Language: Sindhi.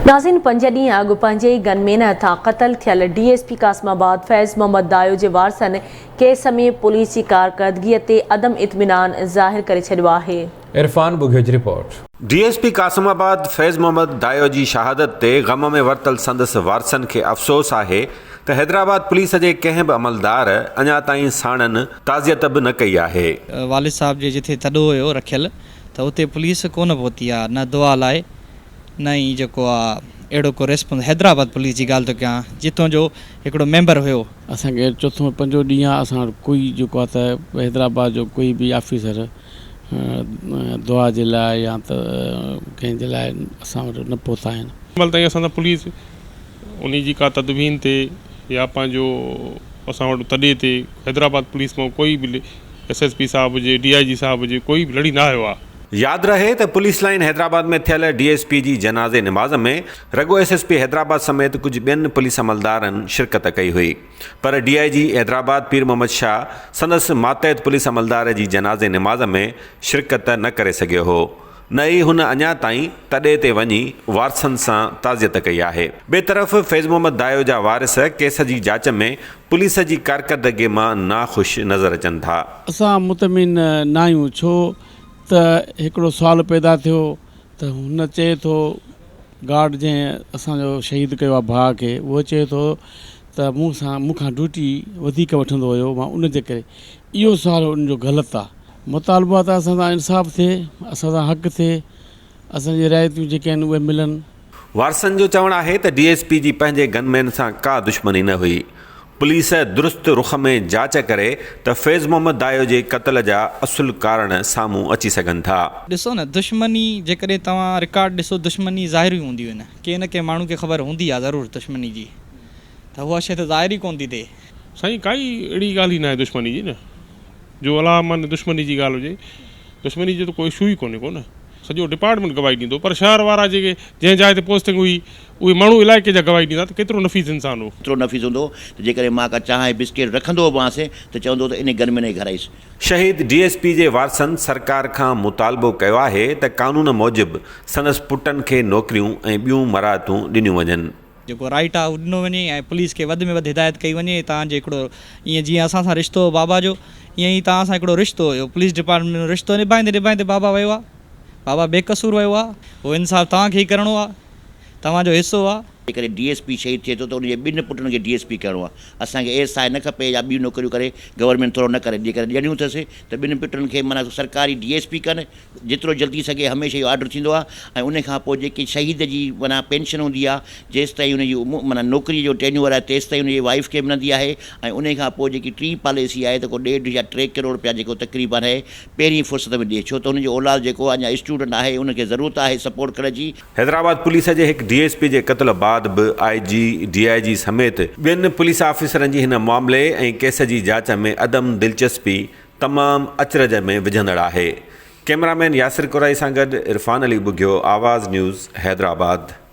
ناظرين پنج ڏينهن اڳ پنهنجي ئي گن مين هٿان قتل ٿيل D S P Qasimabad Faiz Muhammad Dayo جي وارثن ڪيس ۾ پوليس جي ڪارڪردگي تي عدم اطمينان ظاهر ڪري ڇڏيو آهي. عرفان ٻگهيو جي report. D S P Qasimabad Faiz Muhammad Dayo جي شهادت تي غم ۾ ورتل سندس وارثن کي افسوس آهي ته حيدرآباد پوليس جي ڪنهن به عملدار اڃا تائين ساڻن تعزيت به نه ڪئي آهي. والد صاحب جي جتي تڏو هيو رکيل ته اتي پوليس ڪونه پهتي آ نه دعا لاء نه ئي جيڪو آ اهڙو ڪو ريسپونس حيدرآباد پوليس جي ڳالهه ٿو ڪيان جتون جو هڪڙو ميمبر هيو. اسان کي چوٿون پنجون ڏينهن آ اسان وٽ ڪوئي جيڪو آ ته حيدرآباد جو ڪوئي به آفيسر دعا جي لاء يا ته ڪنهن جي لاء اسان وٽ نه پهتا آهن. هينمهل تائين اسان سان پوليس انهي جي ڪا تدوين تي يا پنهنجو اسان وٽ تڏي تي حيدرآباد پوليس مئن ڪوئي به ايس ايس پي صاحب هجي ڊي آئي جي صاحب هجي ڪوئي به لڙي نه آيو آ. ياد رهي ته پوليس لائين حيدرآباد ۾ ٿيل ڊي ايس پي جي جنازي نماز ۾ رڳو ايس ايس پي حيدرآباد سميت ڪجهه ٻين پوليس عملدارن شرڪت ڪئي هئي پر ڊي آء جي حيدرآباد پير محمد شاهه سندس ماتحت پوليس عملدار جي جنازي نماز ۾ شرڪت نه ڪري سگهيو هو نه ئي هن اڃا تائين تڏي تي وڃي وارثن سان تعزيت ڪئي آهي ٻئي طرف فيض محمد دايو جا وارث ڪيس جي جاچ ۾ پوليس جي ڪارڪردگي مان ناخوش نظر اچن ٿا. اسان مطمئن ناهيون ڇو ته هڪڙو سوال پيدا ٿيو ته هن چئي ٿو گارڊ جنهن اسان جو شهيد ڪيو آهي ڀاء کي اهو چئي ٿو ته مون سان مون کان ڊيوٽي وڌيڪ وٺندو هيو مان ان جي ڪري اهو سوال ان جو غلط آهي مطالبو آهي ته اسان سان انصاف ٿئي اسان سان حق ٿئي اسان جي رعايتون جيڪي آهن اهي ملن. وارثن جو چوڻ آهي ته ڊي ايس پي جي پنهنجي گن مين سان ڪا دشمني نه هئي، پوليس درست رخ ۾ جاچ ڪري ته فيض محمد دايو جي قتل جا اصل ڪارڻ سامهون اچي سگهن ٿا. ڏسو نه دشمني جيڪڏهن توهان رڪارڊ ڏسو دشمني ظاهري هونديون آهن ڪنهن نه ڪنهن ماڻهو کي خبر هوندي آهي ضرور دشمني جي ته اها شي ته ظاهري ڪونه ٿي ٿئي. سائين ڪائي اهڙي ڳالهه ئي ناهي دشمني جي نه. جو الاهه معني دشمني جي ڳالهه هجي دشمني جو ته ڪو اشو ئي ڪونهي ڪو نه سڄو ڊپارٽمينٽ گواهي ڏيندو پر شهر وارا جيڪي جنهن جاء تي پوسٽنگ هئي اهي ماڻهو علائقي جا گواهي ڏيندا ته ڪيترو نفيس انسان هو. ايترو نفيس هوندو هو ته جيڪڏهن مان ڪا چانهه ۽ بسڪيٽ رکندو به هئانس ته چوندو هو ته انهي گرمين ۾ گهر آئيس. شهيد ڊي ايس پي جي وارثن سرڪار کان مطالبو ڪيو آهي ته قانون موجب سندس پٽن کي نوڪريون ۽ ٻيون مراعتون ڏنيون وڃن. جيڪو رائيٽ آهي اهو ڏنو وڃي ۽ پوليس کي وڌ ۾ وڌ هدايت ڪئي وڃي تان جي هڪڙو ايئن جيئن اسان سان رشتو هو بابا جو ايئن ئي تان سان هڪڙو رشتو هيو پوليس ڊپارٽمينٽ جو رشتو نڀائيندي نڀائيندي بابا ويو آهي بابا بي قصور ويو آهي اهو انصاف توهان کي ئي ڪرڻو آهي توهان جو حصو آهي. جيڪڏهن ڊي ايس پي شهيد ٿئي ٿو ته ان جي ٻن پٽن کي ڊي ايس پي ڪرڻو آهي اسان کي اي ايس آء نه کپي يا ٻيون نوڪريون ڪري گورنمينٽ ٿورو نه ڪري جيڪڏهن ڏيڻيون اٿس ته ٻن پٽن کي معنيٰ سرڪاري ڊي ايس پي ڪن جيترو جلد ٿي سگهي هميشه اهو آرڊر ٿيندو آهي ۽ ان کان پوء جيڪي شهيد جي معنيٰ پينشن هوندي آهي جيستائين ان جي معنيٰ نوڪري جو ٽينيوئر آهي تيستائين ان جي وائيف کي ملندي آهي ۽ ان کان پوء جيڪي ٽين پاليسي آهي ته ڪو ڏيڍ يا ٽي ڪروڙ رپيا جيڪو تقريبن هي پهرين فرصت ۾ ڏئي ڇو ته هن جو اولاد جيڪو اڃا اسٽوڊنٽ آهي ان کي ضرورت آهي سپورٽ ڪرڻ جي. حيدرآباد پوليس جي هڪ ڊي ايس پي جي قتل بعد به آء جي، ڊي آء جي سميت ٻين پوليس آفيسرن جي هن معاملي ۽ ڪيس جي جاچ ۾ عدم دلچسپي تمام اچرج ۾ وجهندڙ آهي. ڪيمرا مين ياسر قرائي سان گڏ عرفان علي ٻگهيو آواز نيوز حيدرآباد.